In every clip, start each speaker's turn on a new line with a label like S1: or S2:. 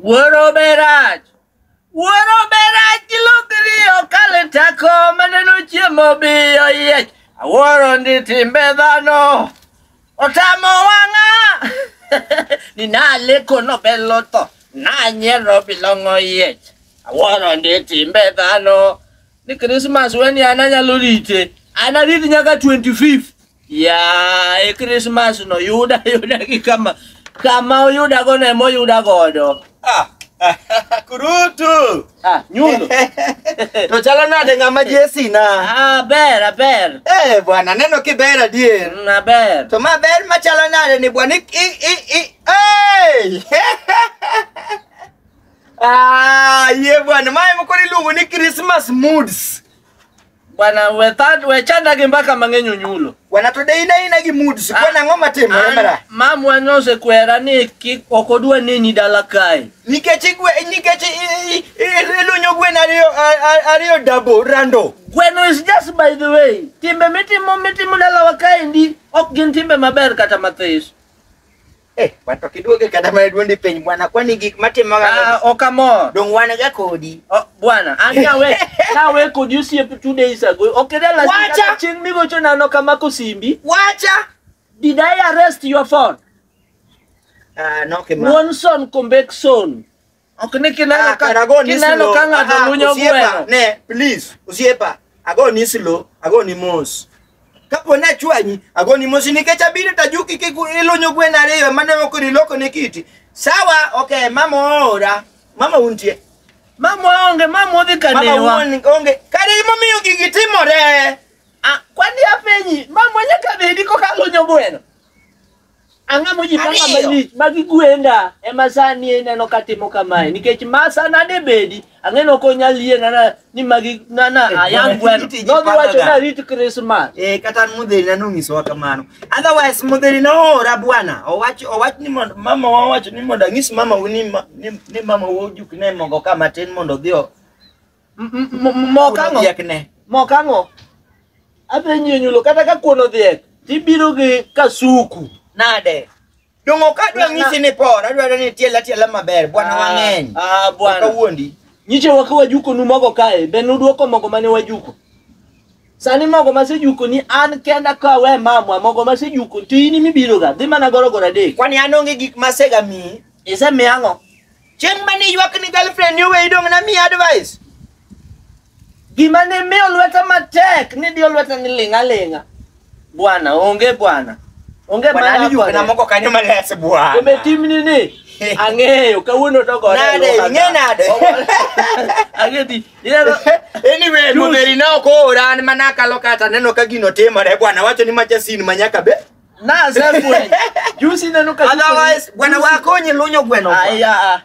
S1: Wuoro berach. Wuoro berach gilokri okale tako maneno chiemo biyo yiech. Awuoro ndi timbe dhano. Otamo wang'a. Ni naleko nobelo tho. Nanyiero bilong'o yiech. Awuoro ndi timbe dhano. Ni Christmas weni an anyalo rite. Anarit nyaka 25. Yaye Christmas no yuda yuda gi kama kama oyuda go ne moyuda godo. Ah. Kurutu.
S2: Ah, nyundo.
S1: to
S2: chalo nade ng'ama Jesi na? Ah, ber, aber. Eh,
S1: bwana neno
S2: kiber adier. Mm, aber. To ma
S1: ber ma chalo
S2: nade ni bwana i i i. Hey! ah, ye bwana, mae moko niluongo ni Christmas moods. Bwana
S1: wetha- wechandagi mbaka mang'eny onyulo. Bwana to dei naina
S2: gi mood sikuwa na ng'oma timore mara. Mamwa nosekwera
S1: ni kik ok odwa neni dala kae. Nikech igwe
S2: nikech i- i- i- ilunyo gwen ariyo a- a- ariyo dabo rando. Gweno is just
S1: by the way. Timbe mitimo mitimo dalawa kaendi ok gin timbe maber kata mathis.
S2: Eh, wan to kiduoge kata mana duondi piny bwana, kwani gik matimoga Ah, ok amor.
S1: dong wan ga
S2: kodi. Oh, bwana, an
S1: nawe, nawe kodi osiep two days ago. Ok ine last week Wacha! kata chieng' migocho
S2: nano
S1: kamako simbi. Wacha!
S2: Did I
S1: arrest your phone?
S2: Ah, no kima. Wonson Kombekson.
S1: Ok ni kineno Ah, ka kara go ni kineno slow. ka ng'ato Ah, lunyo osiepa, gweno. Ne, please,
S2: osiepa. Ago ni slow, ago ni mos. Kapo na chwanyi, ago ni mos nikech abiro ta juki kik ilunyo gweno ariyo mane moko iloko ne kiti. Sawa, okay, mama oora. Mama untie. Mama onge,
S1: mama odhi Mama kanewa. uon onge.
S2: Kare imomiyo gigi timore. Ah, kwani
S1: apenyi, mama nyaka bedi koka lunyo gweno. Ang'a mojipanga Ariyo. malich magi gwenda ema sani ineno ka timo kamae nikech ma sana de bedi ang'eno ok onyal yie nana ni magi nana ayang gweno Iti ji nodhi wacho pangaga. ni arit Christmas Eh, kata an mudheri na
S2: nonyisowa kamano otherwise mudheri noora bwana owach owach ni mondo mama wa wacho ni mondo anyis mama wu ni, ma- ni, ni mama wu ojuk ne mogo ka matin mondo odhi o- Mokang'o. Dhiekne.
S1: Mokang'o. Adhi nyie nyulo kata ka kuono dhiek tibiro gi kasuku. Nade.
S2: Dongo ka dwa ng'isi ni por, adwaro ni tiela tiela maber, bwana ah, wang'eny. Ah, bwana. Kawuondi.
S1: Nyiche
S2: waka wajuko
S1: nu mogo kae, be nudwoko mogo mane wajuko. Sani mogo masejuko ni an kenda ka we mamwa mogo masejuko to in mibiro ga dhi mana goro goro adek. Kwani an onge gik
S2: masega mi. Isemiya ang'o?
S1: Chieng' mane
S2: iywak ni girlfriend ni oweyi dong' na miya advice. Gima
S1: ne miyo lweta matek ni diyo lweta ni ling'a ling'a. Bwana, onge bwana. Onge Bwana mana ni yuok na moko
S2: kanyo malas bwana. Kumbe timni ni
S1: ang'eyo kawuono to gore. Nade, lwaka. ing'e nade? Ang'e di. Ineno
S2: Anyway, Juice. Mudheri ne ok oora an mana akalo kata neno ka gino timore bwana wacho ni macha sin manyaka be. Na sefwe.
S1: Juzi neno ka Otherwise, bwana wako
S2: nyilunyo gweno. kwa. Aya. ah.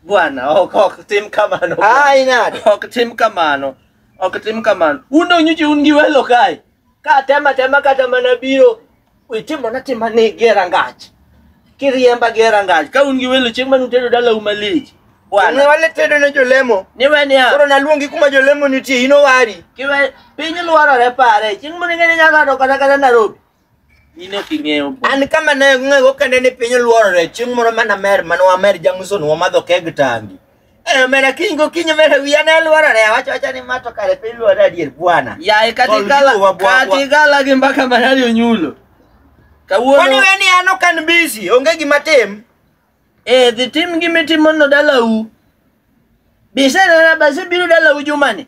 S1: Bwana, ok ok tim kamano. bwana. Ai nade. Ok
S2: tim
S1: kamano. Ok tim kamano. Un donyu ji un gi welo kae. Ka tema tema kata mana biro itimo na tima ni gera ngach. Kiriemba gera ngach. Ka un gi welo chieng' manu tedo dala uma lich. Ne Bwana. wale
S2: tedo ne jolemo. Niwe niya. Koro
S1: naluongi kuma jolemo
S2: nitie, in owari. Kiwe piny
S1: lwarore pare. Chieng' moro ing'e ni nyalo do kata kata Nairobi. Nino king'eyo bo. An kama ne
S2: ng'ego kende ni piny oluorore chieng' moro mana mer mano wamer jang'uson wamadho keg tangi. Eh mera kiny go kinyo mera wiya ne luorore awacho acha ni mato kare piny luorore adier bwana. Yaye Tol katigala
S1: juu wa bwa- katigala gi mbaka manari onyulo. Kwani Kawuono we ni an
S2: ok an busy onge gima tim. eh dhi
S1: tim gimi timono dalau. Bisenena basi biro dalau jumani.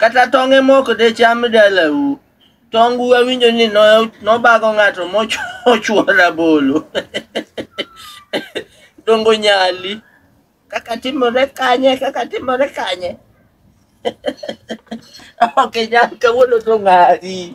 S1: Kata tong' ema ok decham dalau. Tongu awinjo ni no- nobago ng'ato mochuo rabolo. Dongo nyali. Kaka timore kanye, kaka timore kanye. Ok nyal kawuono to ng'ari.